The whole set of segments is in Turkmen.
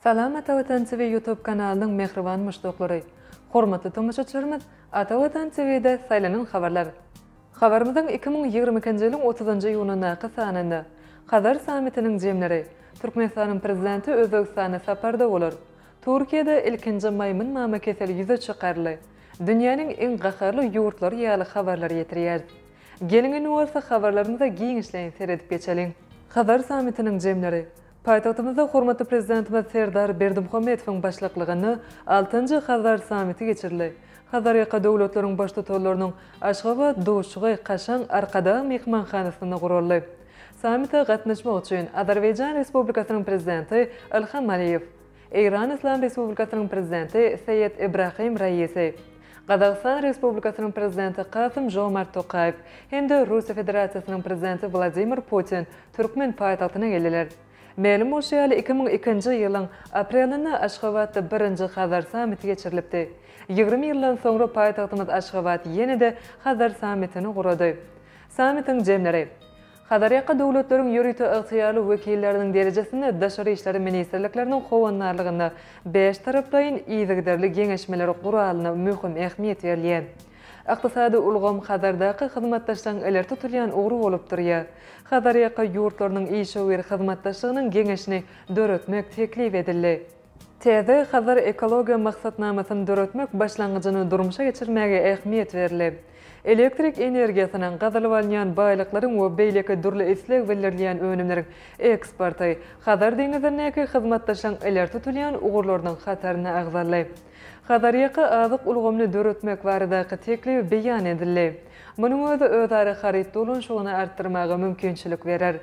Salam Ata Watan TV Youtube kanalynyň mähriban muşdaklary! Hormatly tomaşaçylarymyz Ata Watan TV-de saýlanan habarlar! Habarymyzyň iki müň ýigrimi ikinji ýylyň otuzynjy iýunyndaky sanynda Hazar sammitiniň jemleri, Türkmenistanyň Prezidenti Özbegistana saparda bolar, Türkiýede ilkinji maýmyn mama keseli ýüze çykarly, dünýäniň iň gaharly ýurtlary ýaly habarlar ýetirýäris. Geliň indi bolsa habarlarymyza giňişleýin seredip geçeliň. Hazar sammitiniň jemleri, Paýtagtymyzda hormatly Prezidentimiz Serdar Berdimuhamedowyň başlyklygynda altynjy Hazar sammiti geçirildi. Hazarýaka döwletleriň Baştutanlarynyň Aşgabat duşuşygy kaşaň Arkadag myhmanhanasynda guraldy. Sammite gatnaşmak üçin Azerbaýjan Respublikasynyň Prezidenti Ilham Aliýew, Eýran Yslam Respublikasynyň Prezidenti Seýed Ibrahim Raisi, Gazagystan Respublikasynyň Prezidenti Kasym-Žomart Tokaýew hem-de Russiýa Federasiýasynyň Prezidenti Wladimir Putin türkmen paýtagtyna geldiler. Mälim bolşy ýaly, iki müň ikinji ýylyň aprelinde Aşgabatda birinji Hazar sammiti geçirilipdi. Ýigrimi ýyldan soňra paýtagtymyz Aşgabat ýene-de Hazar sammitini gurady. Sammitiň jemleri. Hazarýaka döwletleriň ýörite ygtyýarly wekilleriniň derejesinde daşary işler ministrlikleriniň howandarlygynda bäştaraplaýyn yzygiderli geňeşmeler guralyna möhüm ähmiýet berilýär. Ykdysady ulgam Hazardaky hyzmatdaşlygyň ileri tutulýan ugry bolup durýar. Hazarýaka ýurtlarynyň işewür hyzmatdaşlygynyň geňeşini döretmek teklip edildi. Täze Hazar ekologiýa maksatnamasyny döretmek başlangyjyny durmuşa geçirmäge ähmiýet berildi. Elektrik energiýasynyň, gazylyp alynýan baýlyklaryň we beýleki dürli isleg bildirilýän önümleriň eksporty Hazar deňizindäki hyzmatdaşlygyň ileri tutulýan ugurlarynyň hataryna agzaldy. Hazarýaka azyk ulgamyny döretmek baradaky teklip beýan edildi. Munuň özi özara haryt dolanyşygyny artdyrmaga mümkinçilik berer.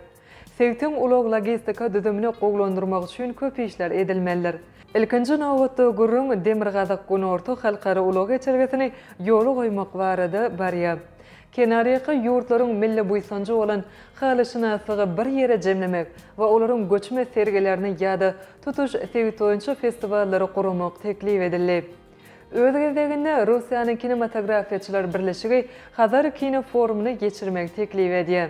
Sebitiň ulag-logistika düzümini gowulandyrmak üçin köp işler edilmelidir. Ilkinji nobatda, gürrüň Demirgazyk-Günorta halkara ulag geçelgesini ýola goýmak barada barýar. Kenarýaka ýurtlaryň milli buýsanjy bolan halyşynaslygy bir ýere jemlemek we olaryň göçme sergilerini ýa-da tutuş sebit boýunça festiwallary guramak teklip edildi. Öz gezeginde, Russiýanyň Kinematografiýaçylar birleşigi Hazar kino forumyny geçirmegi teklip edýär.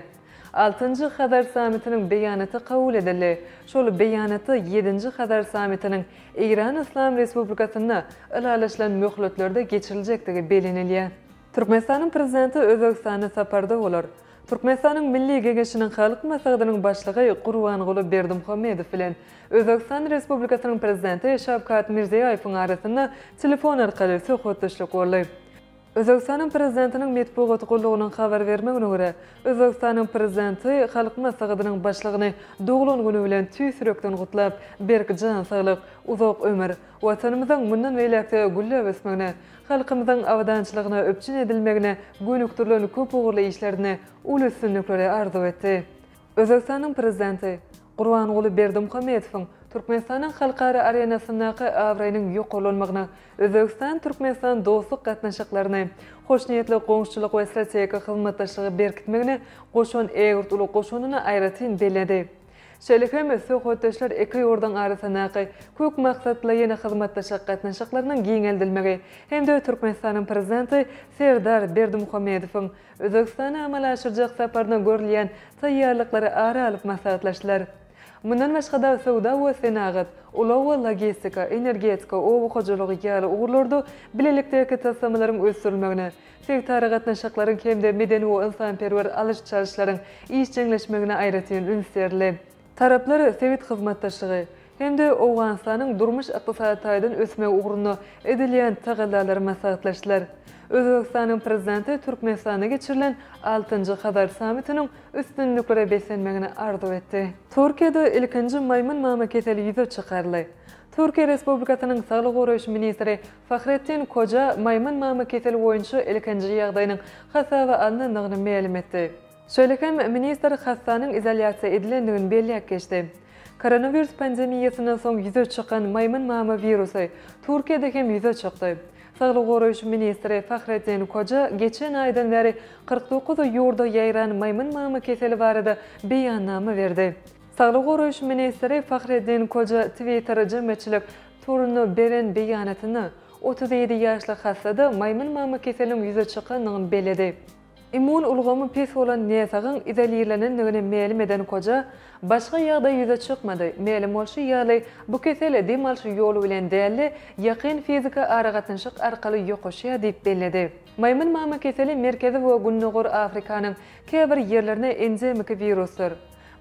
Altynjy Hazar sammitiniň beýanaty kabul edildi. Şol beýanatda Ýedinji Hazar sammitiniň Eýran Yslam Respublikasynda ylalaşylan möhletlerde geçiriljekdigi bellenilýär. Türkmenistanyň Prezidenti Özbegistana saparda bolar. Türkmenistanyň Milli Geňeşiniň Halk Maslahatynyň Başlygy Gurbanguly Berdimuhamedow bilen Özbegistan Respublikasynyň Prezidenti Şawkat Mirziýaýewiň arasynda telefon arkaly söhbetdeşlik boldy. Özbegistanyň Prezidentiniň metbugat gullugynyň habar bermegine görä, Özbegistanyň Prezidenti Halk Maslahatynyň Başlygyny doglan güni bilen tüýs ýürekden gutlap, berk jan saglyk, uzak ömür, Watanymyzyň mundan beýläk-de gülläp ösmegine, halkymyzyň abadançylygyna üpjün edilmegine gönükdirilen köp ugurly işlerinde uly üstünlikleri arzuw etdi. Özbegistanyň Prezidenti. Gurbanguly Berdimuhamedowyň Türkmenistanyň halkara arenasyndaky abraýynyň ýokarlanmagyna, Özbegistan-Türkmenistan dostluk gatnaşyklaryny, hoşniýetli goňşuçylyk we strategik hyzmatdaşlygy berkitmegine goşan ägirt uly goşandyny aýratyn belledi. Şeýle hem söhbetdeşler iki ýurduň arasyndaky köp maksatlaýyn hyzmatdaşlyk gatnaşyklarynyň giňeldilmegi hem-de Türkmenistanyň Prezidenti Serdar Berdimuhamedowyň Özbegistana amala aşyrjak saparyna görülýän taýýarlyklary ara alyp maslahatlaşdylar. Mundan başga-da, söwda we senagat, ulag we logistika, energetika, oba hojalygy ýaly ugurlarda bilelikdäki taslamalaryň ösdürilmegine, sebitaragatnaşyklaryň hem-de medeni we ynsanperwer alyş-çalyşlaryň işjeňleşmegine aýratyn üns berildi. Taraplar sebit hyzmatdaşlygy hem-de Owganystanyň durmuş-ykdysady taýdan ösmegi ugrunda edilýän tagallalary maslahatlaşdylar. Özbegistanyň Prezidenti Türkmenistanda geçirilen altynjy Hazar sammitiniň üstünliklere beslenmegini arzuw etdi. Türkiýede ilkinji maýmyn mama keseli ýüze çykaryldy. Türkiýe Respublikasynyň Saglygy goraýyş ministri Fahrettin Koja maýmyn mama keseli boýunça ilkinji ýagdaýynyň hasaba alnandygyny mälim etdi. Şeýle hem ministr hassanyň izolýasiýa edilendigini belläp geçdi. Koronawirus pandemiýasyndan soň ýüze çykan maýmyn mama wirusy Türkiýede hem ýüze çykdy. Saglygy goraýyş ministri Fahrettin Koja geçen aýdan bäri kyrk dokuz ýurda ýaýran maýmyn mama keseli barada beýannama berdi. Saglygy goraýyş ministri Fahrettin Koja Twitter jemgyýetçilik toruna beren beýanatynda, otuz ýedi ýaşly hassa-da maýmyn mama keseliniň ýüze çykandygyny belledi. Immun ulgamy pes bolan näsagyň izolirlenendigini mälim eden koja, Başga ýagdaý ýüze çykmady. Mälim bolşy ýaly, bu kesel dem alşy ýoly bilen däl-de, ýakyn fiziki aragatnaşyk arkaly ýokaşýar diýip belledi. Maýmyn mama keseli Merkezi we Gündogar Afrikanyň käbir ýerlerine endemiki wirusdyr.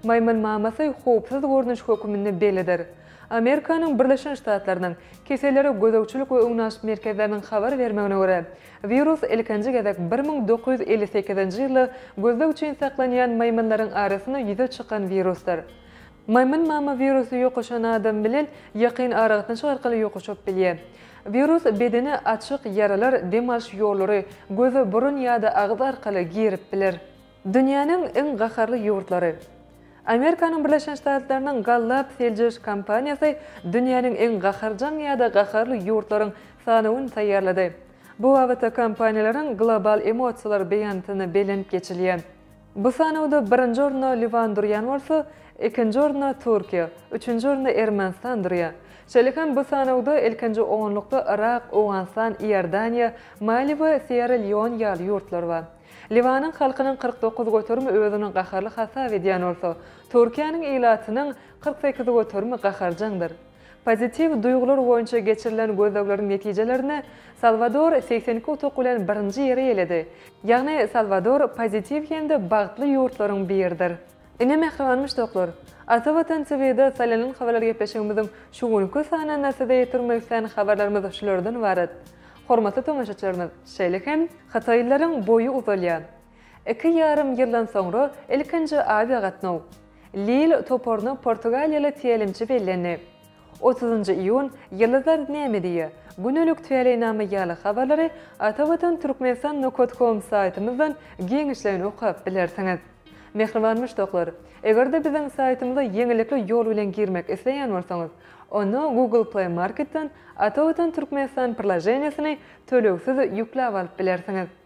Maýmyn mamasy howpsuz görnüş höküminde bellidir. Amerikanyň Birleşen Ştatlarynyň Kesellere gözegçilik we öňünalyş merkezleriniň habar bermegine görä, Wirus ilkinji gezek bir müň dokuz ýüz elli sekizinji ýylda gözleg üçin saklanýan maýmynlaryň arasynda ýüze çykan wirusdyr. Maýmyn mama wirusy ýokuşan adam bilen ýakyn aragatnaşyk arkaly ýokuşyp bilýär. Wirus bedene açyk ýaralar, dem alyş ýollary, göz, burun ýa-da agyz arkaly girip biler. Dünýäniň iň gaharly ýurtlary. Amerikanyň Birleşen Ştatlarynyň Gallup seljerişi kompaniýasy dünýäniň iň gaharjaň ýa-da gaharly ýurtlaryň sanawyny taýýarlady. Bu babatda kompaniýalaryň global emosiýalary beýanatyna belent geçilýär. Bu sanawda birinji orunda Liwan durýan bolsa, ikinji orunda Türkiýe, üçünji orunda Ermenistan durýar. Şeýle hem bu sanawda ilkinji onlukda Yrak, Owganystan, Iordaniýa, Mali we Sýerra-Leon ýaly ýurtlar bar. Liwanyň halkynyň kyrk dokuz göterimi özüni gaharly hasap edýän bolsa, Türkiýäniň ilatynyň kyrk sekiz göterimi gaharjaňdyr. Pozitiw duýgular boýunça geçirilen gözlegleriň netijelerinde Salwador segsen iki utuk bilen birinji ýeri eýeledi. Ýagny Salwador pozitiw hem-de bagtly ýurtlaryň biridir. Ine mähriban muşdaklar! Ata Watan TV-de saýlanan habarlar gepleşigimiziň şu günki sanynda size ýetirmek isleýän habarlarymyz şulardan ybarat. Hormatly tomaşaçylarymyz, şeýle hem Hytaýlylaryň boýy uzalýar. Iki ýarym ýyldan soňra ilkinji awiagatnaw. Lille toparyna portugaliýaly tälimçi bellendi. Otuzynjy iýun, Ýyldyzlar näme diýýär? Gündelik Täleýnama ýaly habarlary Atavatan Türkmenistan Nokat Kom saýtymyzdan giňişleýin okap bilersiňiz. Mähriban muşdaklar! Eger-de biziň saýtymyza ýeňillikli ýol bilen girmek isleýän bolsaňyz, onda Google Play Marketden Atavatan Türkmenistan prlaženiýesini tölegsiz ýükläp alyp bilersiňiz.